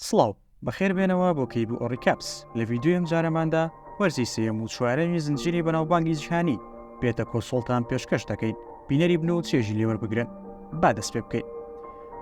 سڵاو، بەخێر بێنەوە بۆ کەیبوو ڕیکاپس، لە ڤیدیۆی ئەم جارەماندا وەرزی سێیەم و چوارەمی زنجیرەی بەناوبانگی جیهانی بێتە کۆسۆڵتان پێشکەش دەکەین بینەری بن و چێژی لێ وەربگرن با دەست پێ بکەین.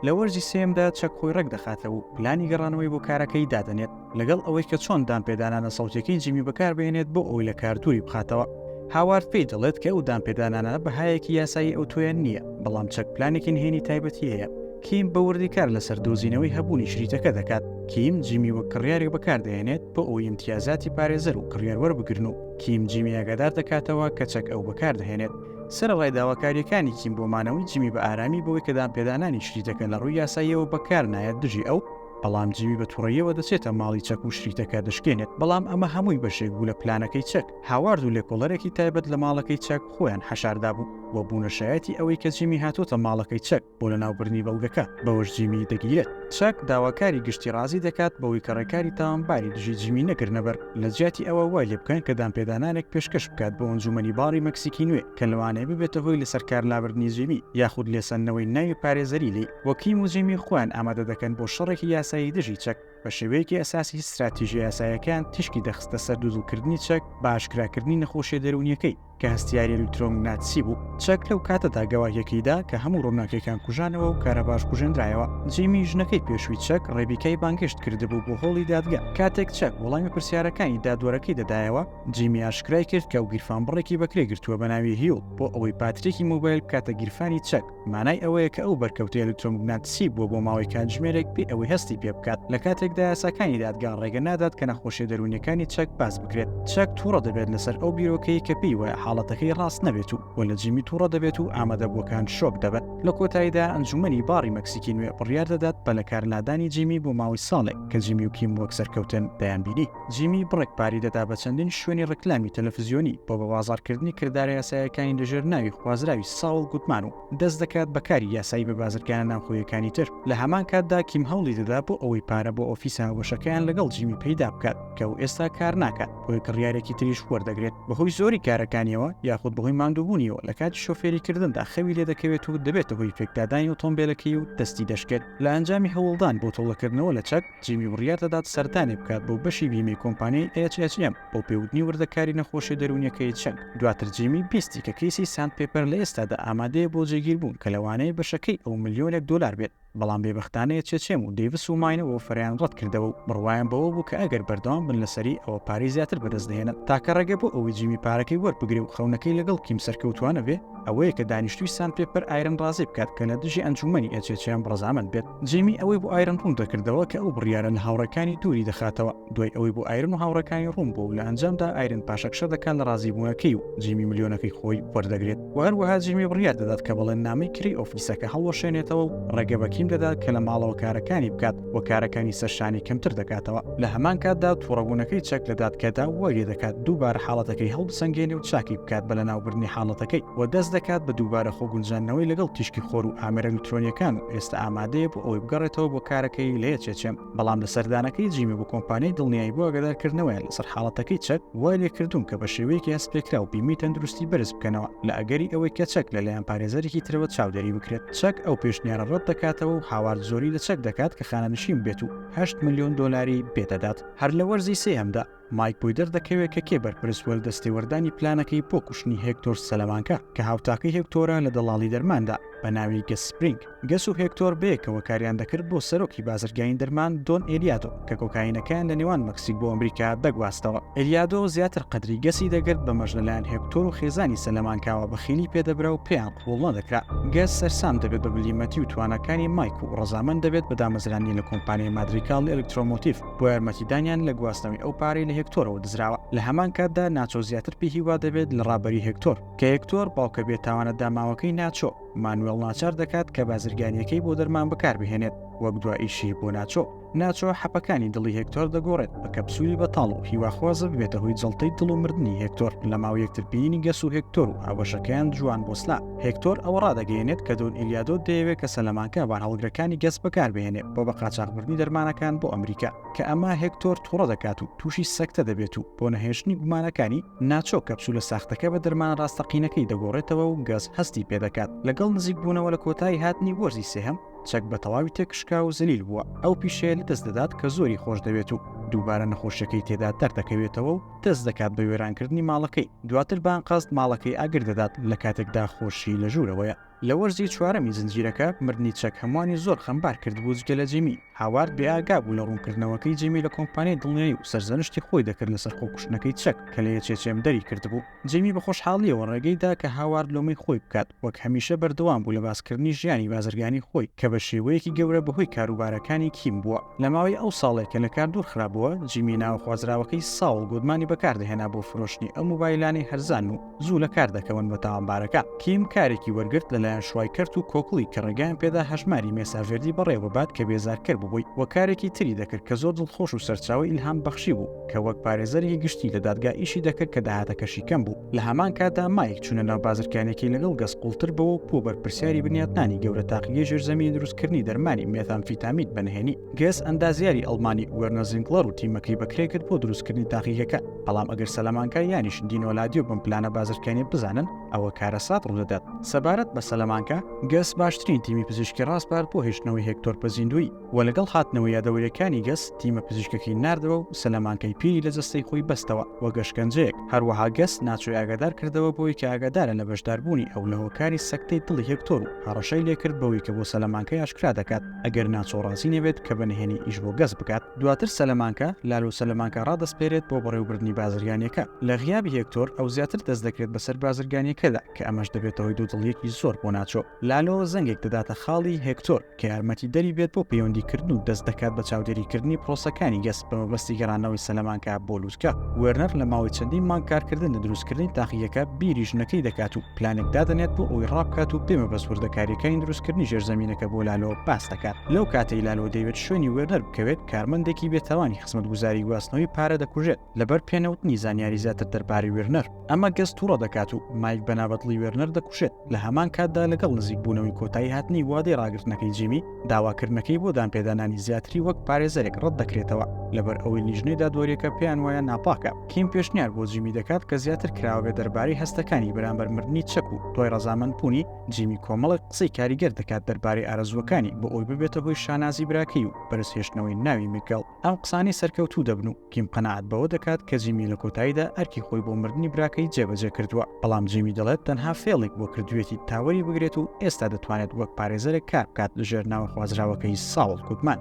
لە وەرزی سێیەمدا چەک خۆی ڕێک دەخاتەوە و پلانی گەڕانەوەی بۆ کارەکەی دادەنێت لەگەڵ ئەوەی کە چۆن دانپێدانانە سەوتیەکەی جیمی بەکاربهێنێت بۆ ئەوی لە کار دووری بخاتەوە. هاوارد پێی دەڵێت کە ئەو دانپێدانانە بەهایەکی یاسایی ئەوتۆیان نییە، بەڵام چەک پلانێکی نهێنی تایبەتی هەیە کیم بە وردی کار لەسەر دۆزینەوەی هەبوونی شریتەکە دەکات، کیم جیمی وەک کڕیارێک بەکاردەهێنێت بۆ ئەوەی ئیمتیازاتی پارێزەر و کڕیار وەربگرن و کیم جیمی ئاگادار دەکاتەوە کە چەک ئەو بەکاردەهێنێت. سەرەڕای داواکارییەکانی کیم بۆ مانەوەی جیمی بە ئارامی بەوەی کە دانپێدانانی شریتەکە لە ڕووی یاساییەوە بەکارنایەت دژی ئەو، بەڵام جیمی بە توڕەییەوە دەچێتە ماڵی چەک و شریتەکە دەشکێنێت، بەڵام ئەمە هەمووی بەشێک بوو لە پلانەکەی چەک. هاوارد و لێکۆڵەرێکی تایبەت لە ماڵەکەی چەک خۆیان حەشاردابوو و بوونە شایەتی ئەوەی کە جیمی هاتووەتە ماڵەکەی چەک. بۆ لەناوبردنی بەڵگەکە، بەوەش جیمی دەگیرێت. چاک داواکاری گشتی ڕازی دەکات بەوەی کە ڕێکاری تاوانباری دژی جیمی نەگرنەبەر، لەجیاتی ئەوە وای لێبکەن کە دانپێدانانێک پێشکەش بکات بۆ ئەنجوومەنی باڕی مەکسیکی نوێ کە لەوانەیە ببێتە هۆی لەسەرکارلابردنی جیمی یاخود لێسەندنەوەی ناوی پارێزەری لی. وە کیم و جیمی خۆیان ئامادە دەکەن بۆ شەڕێکی یاسایی دژی چەک، بە شێوەیەکی ئەساسی ستراتیژە یاسایەکەیان تیشکی دەخستە سەر دوودڵکردنی چەک بە ئاشکراکردنی نەخۆشیە دەروونیەکەی، کە هەستیاری ئەلیکترۆمگناتسی بوو چەک لەو کاتەدا گەواهیەکەیدا کە هەموو ڕووناکەکان کوژانەوە و کارە باش کوژێنرایەوە جیمی ژنەکەی پێشوی چەک ڕێبیکای بانگشت کردبوو بۆ هۆڵی دادگە کاتێک چەک وەڵامی پرسیارەکانی دادوەرەکەی دەدایەوە جیمی ئاشکرای کرد کە و گیرفان بڕێکی بەکرێ گرتووە بە ناوی هیوڵ بۆ ئەوەی پاتریکی مۆبایل بکاتە گیرفانی چەک مانای ئەوەیە کە ئەو بەرکەوتە ئەلکترۆمگناتسی بووە بۆ ماوەی کاتژمێرێک بێ ئەوەی هەستی پێ بکات لە کاتێکدا یاساکانی دادگا ڕێگە نادات کە نەخۆشیە دەروونیەکانی چەک باس بکرێت چەک تووڕە دەبێت لەسەر ئەو بیرۆکەی کە پێی وایە حاڵەتەکەی ڕاست نەبێت و و لە جیمی تووڕە دەبێت و ئامادەبووەکان شۆک دەبن لە کۆتاییدا ئەنجومەنی باڕی مەکسیکی نوێ بڕیار دەدات بە لەکارلادانی جیمی بۆ ماوەی ساڵێک کە جیمی و کیم وەک سەرکەوتن دەیانبینی. جیمی بڕێک پاری دەدا بە چەندین شوێنی ڕکلامی تەلەفزیۆنی بۆ بە بازارکردنی کردارە یاسایەکانی لەژێر ناوی خوازراوی ساوڵ گوتمان و دەست دەکات بە کاری یاسایی بە بازرگانە ناوخۆیەکانی تر لە هەمان کاتدا کیم هەوڵی دەدا بۆ ئەوەی پارە بۆ ئۆفیسە هاوبەشەکەیان لەگەڵ جیمی پەیدا بکات کە و ئێستا کار ناکات بۆی کڕیارێکی تریش وەردەگرێت بەهۆی زۆری کارەکانیەوە یاخود بەهۆی ماندووبوونیەوە لە کاتی شۆفێری کردندا خەوی لێ دەکەوێت و دەبێتە هۆی پێکدادانی ئۆتۆمبیلەکەی و دەستی دەشکێت لە ئەنجامی هەوڵدان بۆ تۆڵەکردنەوە لە چەک جیمی بڕیار دەدات سەردانێک بکات بۆ بەشی بیمەی کۆمپانیای HHM بۆ پێوتنی وردەکاری نەخۆشیە دەروونیەکەی چەنگ دواتر جیمی بیستی کە کەیسی ساند پێپەر لە ئێستادا ئامادەیە بۆ جێگیربوون کە لەوانەیە بەشەکەی ئەو ملیۆنێک دۆلار بێت بەڵام بێبەختانە HHM و دەیڤس و ماینە وەفەریان ڕەتکردەوە و بڕوایان بەوە بوو کە ئەگەر بەردەوام بن لەسەری ئەوە پارەی زیاتر بەدەست دەهێنن تاکە ڕێگە بۆ ئەوەی جیمی پارەکەی وەربگرێ و خەونەکەی لەگەڵ کیم سەرکەوتوانە بێ ئەوەیە کە دانیشتوی ساند پێپەر ئایرن ڕازی بکات کە لە دژی ئەنجومەنی HHM ڕەزامەند بێت. جەیمی ئەوەی بۆ ئایرن ڕوون دەکردەوە کە ئەو بڕیارە لە هاوڕێکانی دووری دەخاتەوە، دوای ئەوەی بۆ ئایرن و هاوڕێکانی ڕوون بوو و لە ئەنجامدا ئایرن پاشەکشە دەکات لە ڕازیبوونەکەی و جەیمی ملیۆنەکەی خۆی وەردەگرێت و هەروەها جەیمی بڕیار دەدات کە بەڵێننامەی کرێی ئۆفیسەکە هەڵوەشێنێتەوە و ڕێگە بە کیم دەدات کە لە ماڵەوە کارەکانی بکات و کارەکانی سەر شانی کەمتر دەکاتەوە. لە هەمان کاتدا توڕەبوونەکەی چەک لە دادگەدا وای لێدەکات دووبارە حاڵەتەکەی هەڵبسەنگێنێ و چاکی بکات بە لەناوبردنی حاڵەتەکەی و دەست دەکات بە دووبارە خۆگونجاندنەوەی لەگەڵ تیشکی خۆر و ئامێرە ئەلیکترۆنییەکان و ئێستا ئامادەیە بۆ ئەوەی بگەڕێتەوە بۆ کارەکەی لێ چێچێم بەڵام لە سەردانەکەی جیمی بۆ کۆمپانیای دڵنیایی بۆ ئەگەدارکردنەوەیان لەسەر حاڵەتەکەی چەک وای لێکردوون کە بە شێوەیەکی هەستپێکرا و بیمی تەندروستی بەرز بکەنەوە لە ئەگەری ئەوەی کە چەک لەلایەن پارێزەرێکی ترەوە چاودێری بکرێت چەک ئەو پێشنیارە ڕەت دەکاتەوە و هاوارد زۆری لە چەک دەکات کە خانەنشین بێت و 8 ملیۆن دۆلاری پێدەدات هەر لە وەرزی سێهەمدا مایک بۆی دەردەکەوێت کە کێ بەرپرس بووە لە دەستێوەردانی پلانەکەی بۆ کوشتنی هێکتۆر سەلەمانکە کە هاوتاکەی هێکتۆرە لە دەڵاڵی دەرماندا بە ناوی گەس سپرینگ. گەس و هێکتۆر بەیەکەوە کاریان دەکرد بۆ سەرۆکی بازرگانی دەرمان دۆن ئێلیادۆ کە کۆکاینەکەیان لە نێوان مەکسیک بۆ ئەمریکا دەگواستەوە. ئێلیادۆ زیاتر قەدری گەسی دەگرت بەمەش لەلایەن هێکتۆر و خێزانی سەلەمانکاوە بەخیلی پێدەبرا و پێیان قبوڵ نەدەکرا. گەس سەرسام دەبێت بە بلیمەتی و تواناکانی مایک و ڕەزامەند دەبێت بە دامەزرانی لە کۆمپانیای مادریکاڵ ئێلکترۆمۆتیڤ. بۆ یارمەتیدانیان لە گواستنەوەی ئەو پارەی لە هێکتۆرەوە دزراوە لە هەمان کاتدا ناچۆ زیاتر پێی هیوا دەبێت لە ڕابەری هێکتۆر کە هێکتۆر باوکە بێتاوانە داماوەکەی ناچۆ مانوێڵ ناچار دەکات کە بازرگانیەکەی بۆ دەرمان بەکاربهێنێت وەک دوا ئیشی بۆ ناچۆ ناچۆ حەپەکانی دڵی هێکتۆر دەگۆڕێت بە کەپسولی بەتاڵ و هیواخوازە ببێتە هۆی جڵتەی دڵ و مردنی هێکتۆر لە ماوە یەکترپیینی گەس و هێکتۆر و هاوبەشەکەیان جوان بۆسلا هێکتۆر ئەوە ڕادەگەیەنێت کە دۆن ئیلیادۆ دەیەوێت کە سەلەمانکە بارهەڵگرەکانی گەس بەکاربهێنێت بۆ بە قاچاخبردنی دەرمانەکان بۆ ئەمریکا کە ئەمە هێکتۆر توڕە دەکات و تووشی سەکتە دەبێت و بۆ نەهێشتنی گومانەکانی ناچۆ کەپسولە ساختەکە بە دەرمانە ڕاستەقینەکەی دەگۆڕێتەوە و گەس هەستی پێدەکات لەگەڵ نزیکبوونەوە لە کۆتایی هاتنی وەرزی سێهەم چەک بە تەواوی تێکشکا و زەلیل بووە ئەو پیشەیە لەدەست دەدات کە زۆری خۆش دەوێت و دووبارە نەخۆشیەکەی تێدا دەردەکەوێتەوە و دەست دەکات بە وێرانکردنی ماڵەکەی، دواتر بە ئەنقەست ماڵەکەی ئاگر دەدات لە کاتێکدا خۆشی لە ژوورەوەیە. لە وەرزی چوارەمی زنجیرەکە، مردنی چەک هەمووانی زۆر خەمبار کردبوو جگە لە جیمی. هاوارد بێئاگا بوو لە ڕوونکردنەوەکەی جیمی لە کۆمپانیای دڵنیایی و سەرزەنشتی خۆی دەکرد لەسەر خۆکوشتنەکەی چەک کە لە یەچێچێم دەری کردبوو. جیمی بە خۆشحاڵییەوە ڕێگەی دا کە هاوارد لۆمەی خۆی بکات. وەک هەمیشە بەردەوام بوو لە باسکردنی ژیانی بازرگانی خۆی کە بە شێوەیەکی گەورە بەهۆی کاروبارەکانی کیم بووە. لە ماوەی ئەو ساڵەی کە لە کار دوور خرابووە، جیمی ناوە خوازراوەکەی ساوڵ گودمانی بەکاردەهێنا بۆ فرۆشتنی ئەو مۆبایلانەی هەرزانن و زوو لە کار دەکەون بە تاوانبارەکان. کیم کارێکی وەرگرت لەلایەن شوایکەرت و کۆکڵی کە ڕێگایان پێدا هەژماری مێساڤێردی بەڕێوەببات کە بێزارکەر ببووی و کارێکی تری دەکرد کە زۆر دڵخۆش و سەرچاوەی ئیلهامبەخشی بوو کە وەک پارێزەرێکی گشتی لە دادگا ئیشی دەکرد کە داهاتەکەشی کەم بوو. لە هەمان کاتدا مایک چونە ناو بازرگانێکی لەگەڵ گەس قوڵتر بۆ و بۆ بەرپرسیاری بنیاتنانی گەورە تاقیگەی ژێرزەمین دروستکردنی دەرمانی مێتامفیتامیت بەنهێنی گەس ئەندازیاری ئەڵمانی وەرنەزینگڵەر و تیمەکەی بەکرێ کرد بۆ دروستکردنی تاقیگەکە بەڵام ئەگەر سەلەمانکە یانیش دینۆلادیۆ بم پلانە بازرگانی بزانن ئەوە کارەسات ڕوودەدات سەبارەت بە سەلەمانکە گەس باشترین تیمی پزیشکی ڕاسپارد بۆ هێشتنەوەی هێکتۆر پەزیندووی و لەگەڵ هاتنەوە یادەوەریەکانی گەس تیمە پزیشکەکەی ناردەوە و سەلەمانکەی پیری لە جەستەی خۆی بەستەوە وەک ئەشکەنجەیەک، هەروەها گەس ناچۆی ئاگادار کردەوە بەوەی کە ئاگادارە لە بەشداربوونی ئەو لە هۆکاری سەکتەی دڵی هێکتۆر و هەڕەشەی لێکرد بەوەی کە بۆ سەلەمانکەی ئاشکرا دەکات ئەگەر ناچۆ ڕازی نەبێت کە بە نهێنی ئیش بۆ گەس بکات دواتر سەلەمانکە لالۆ سەلەمانکە ڕادەسپێرێت بۆ بەڕێوبردنی بازرگانیەکە لە غیابی هێکتۆر ئەو زیاتر دەست دەکرێت بەسەر بازرگانیەکەدا کە ئەمەش دەبێتەهۆی دوودڵیەکی زۆر بۆ ناچۆ لالۆ زەنگێک دەداتە خاڵی هێکتۆر کە یارمەتیدەری بێت بۆ پەیوەندیکردن و دەست دەکات بە چاودێریکردنی پرۆسەکانی گەس بە مەبەستی گەڕانەوەی سەلەمانکە بۆ لووتکە. وێرنەر لە ماوەی چەندین مانگ کارکردن لە دروستکردنی تاقیگەکە بیری ژنەکەی دەکات و پلانێک دادەنێت بۆ ئەوەی ڕابکات و بێ مەبەست وردەکارییەکانی دروستکردنی ژێرزەمینەکە بۆ لالۆ باس دەکات. لەو کاتەی لالۆ دەیەوێت شوێنی وێرنەر بکەوێت، کارمەندێکی بێتاوانی خزمەتگوزاری گواستنەوەی پارە دەکوژێت. لەبەر پێنەوتنی زانیاری زیاتر دەربارەی وێرنەر ئەمە گەز تووڕە دەکات و مایک بەنابەتڵی وێرنەر دەکوشێت لە هەمان کاتدا لەگەڵ نزیک بوونەوەی کۆتایی هاتنی وادەی ڕاگرتنەکەی جیمی داواکردنەکەی بۆ دانپێدانانی زیاتری وەک پارێزەرێک ڕەت دەکرێتەوە لەبەر ئەوەی لیژنەی دادوەریەکە پێیان وایە ناپاکە کیم پێشنیار بۆ جیمی دەکات کە زیاتر کراوەێ دەربارەی هەستەکانی بەرامبەر مردنی چەک و دوای ڕزامەند بوونی جیمی کۆمەڵک قسەی کاریگەر دەکات دەربارەی ئارەزووەکانی بۆ ئەوی ببێتە هۆی شانازی براکەی و بەرزهێشتنەوەی ناوی میگەڵ ئەم قسانەی سەرکەوتوو دەبن و کیم قەناعەت بەوە دەکات کە جیمی لە کۆتاییدا ئەرکی خۆی بۆ مردنی براکەی جێبەجێ کردووە، بەڵام جیمی دەڵێت تەنها فێڵێک بۆ کردوویەتی تا وەری بگرێت و ئێستا دەتوانێت وەک پارێزەرێک کار بکات لەژێر ناوە خوازراوەکەی ساوڵ گودمان.